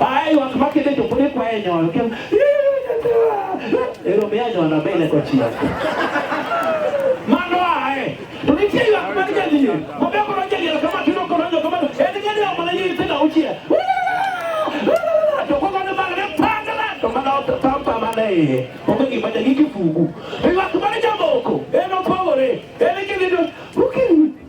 Ai wak ma kende to podi kwaye nyol. Kem. Ero me anyol na bele ko chia. Mano ae. To ni tie wak ma kende ni. Mo be ko roje ni kama tuno ko roje kama. Ene ngene ya mala yi tena uchia. To ko ngane mala ne pangala. To mala to tampa mala e. Ko ngi bada ngi kifugu. Ai wak ma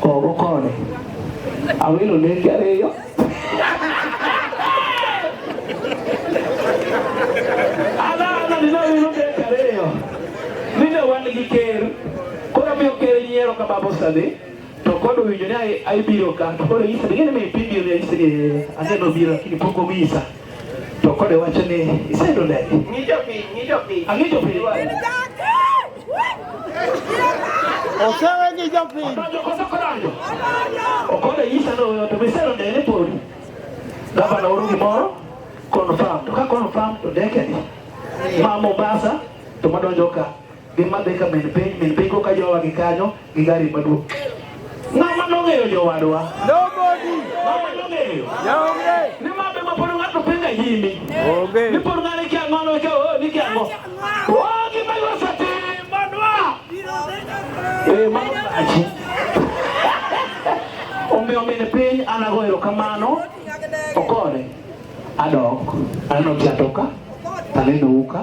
Kogokone. Awilo nenge ariyo. Ala ala ni nawilo nenge ariyo. Ninde wan gi ker. Koro miyo ker nyiero ka babo sani. To kod owinjo ni aibiro ka. To koro isa. Ningene mi pibiro ni isa ni. Ase nobiro lakini pok omisa. To kode wacho ni isendo ndege. Ng'icho pi, ng'icho pi. Ang'icho pi. Osewe gi jopiny. Odonjo koso kodonjo. Okode nyisa ni oyo to misero ndege ni podi. Gavana oro gimoro confirm. To ka confirm to ndege ni. Ma Mombasa to madonjo ka. Gima dhi ka min piny, min piny koka jowa gi kanyo gi gari maduong'. Ng'ama nong'eyo jowadwa? Nobody. Ng'ama nong'eyo? Onge. Ni ma be ma pod ng'ato penjo nyimi. Onge. Ni pod ng'ani kia ng'ono ka o ni kia ngo. O gi ma yo sati madwa. Eh ma achi. Ombe ombe ne piny anago erokamano. Okore. Adok. Aneno kiatoka. Taneno uka.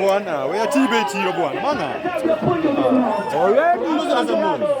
bwana, wewe tibe tiro bwana. Maana. Already.